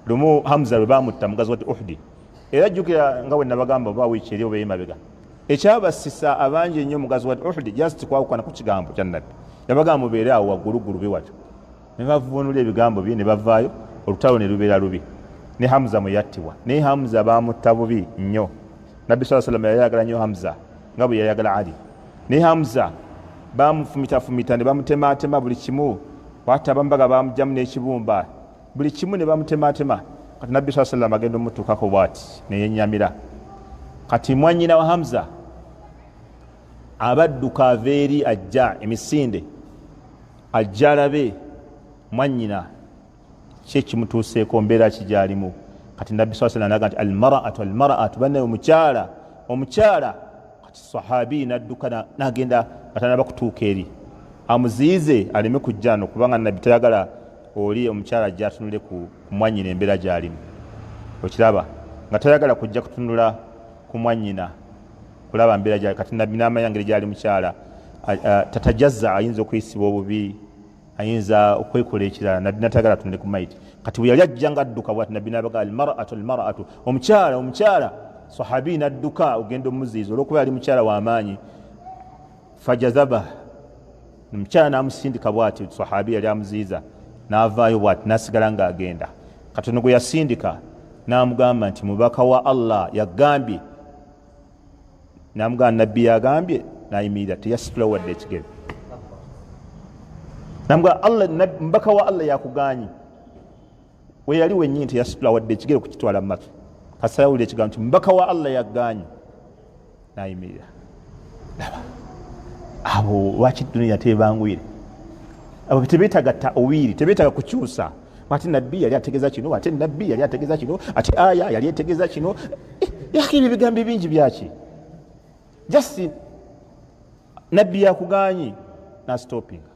lumu hamza lwe bamutta mugazi wati uhudi era jjukira nga bwe nabagamba oba wiiki eri oba emabega ekyabasisa abangi ennyo mugazi wati uhudi just kwawukana ku kigambo kya nabbi yabagamba mubeere awo wagguluggulu be watyo ne bavunula ebigambo bye ne bavaayo olutalo ne lubeera lubi ne hamza mwe yattibwa naye hamza bamutta bubi nnyo nabbi saa salama yayagala nnyo hamza nga bwe yayagala ali naye hamza bamufumitafumita ne bamutemaatema buli kimu wata bambaga bamujamu n'ekibumba buli kimu ne bamutematema kati nabbi saa sallam agenda omutuukako bwati neyenyamira kati mwanyina wa hamza abadduka ava eri ajja emisinde ajja alabe mwanyina ki ekimutuuseeko mbeera ki gyalimu kati nabbi saa sallam aga nti almaraatu almaraatu banaye omukyala omukyala kati sahabi nadduka nagenda atanaba kutuuka eri amuziyize aleme kujjano kubanga nabbi tayagala oli omukyala ajja atunule ku mwanyina embeera gyalimu okiraba nga tayagala kujja kutunula ku mwanyina kulaba mbeera gyali kati nabbi namanya ngeri gyali mukyala tatajaza ayinza okuyisibwa obubi ayinza okwekola ekirala nabbi natagala tunde ku maiti kati bweyali ajja nga adduka bwati nabbi nabaga almaratu almaratu omukyala omukyala sahabi nadduka ogenda omuziiza olwokuba yali mukyala wamaanyi fajazaba omukyala namusindika bwati sahabi yali amuziiza navaayo bwati nasigala nga agenda katono gwe yasindika namugamba nti mubaka wa allah yagambye namugaa nabbi yagambye nayimirira teyasitula wadde ekigere namugaa allah mbaka wa allah yakuganyi weyali wenyini teyasitula wadde ekigere kukitwala mumatu kasayawulira ekigambo ti mbaka wa allah yaganyi nayimirira laba abo lwaki duniya tebangwire abo tebetaga tawiiri tebetaga kukyusa ate nabbi yali ategeza kino ate nabbi yali ategeza kino ate aya yali etegeza kino eh, yaka ebyo bigambo bingi byaki just nabbi yakuganyi nastopinga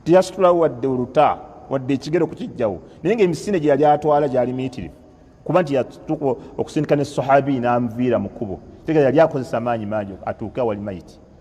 teyasitulawo wadde oluta wadde ekigero kukijjawo naye nga emisinde gye yali atwala gyali miyitirivu kuba nti yatuuka okusindika ne sahabi nanviira mu kkubo tegera yali akozesa maanyi mangi atuuke awali mayiti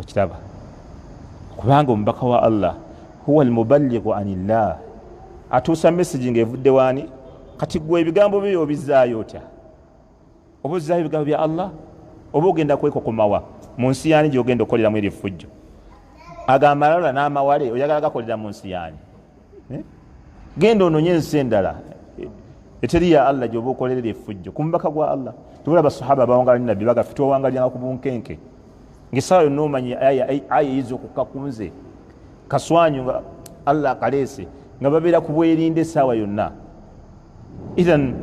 okiraba kubanga omubaka wa allah huwa almuballigu anillah atuusa messagi nga evudde waani kati gwe ebigambo byo yobizaayo otya oba ozaayo ebigambo bya allah oba ogenda kwekokomawa mu nsi yaani gyogenda okukoleramu eri effujjo ago amalala n'amawale oyagala gakolera mu nsi yaani eh? genda ononye ensi endala eteri ya allah gyoba okolerera efujjo ku mubaka gwa allah tubula basahaba bawangala ni nabbi bagafe twawangalianga ku bunkenke ngaesawa yonna omanyi aya eyiza okukka ku nze kaswanyu nga allah akaleese nga babeera ku bwerinde esaawa yonna ithan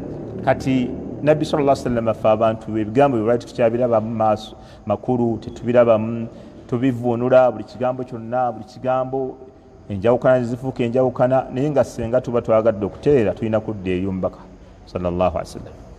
kati nabbi sal lla sallama fe abantu ebigambo bye lwaki tukyabirabamu maaso makulu tetubirabamu tubivunula buli kigambo kyonna buli kigambo enjawukana nezifuuka enjawukana naye nga senga tuba twagadde okutereera tulina kudda eri omubaka sallallahu alaihi wasallam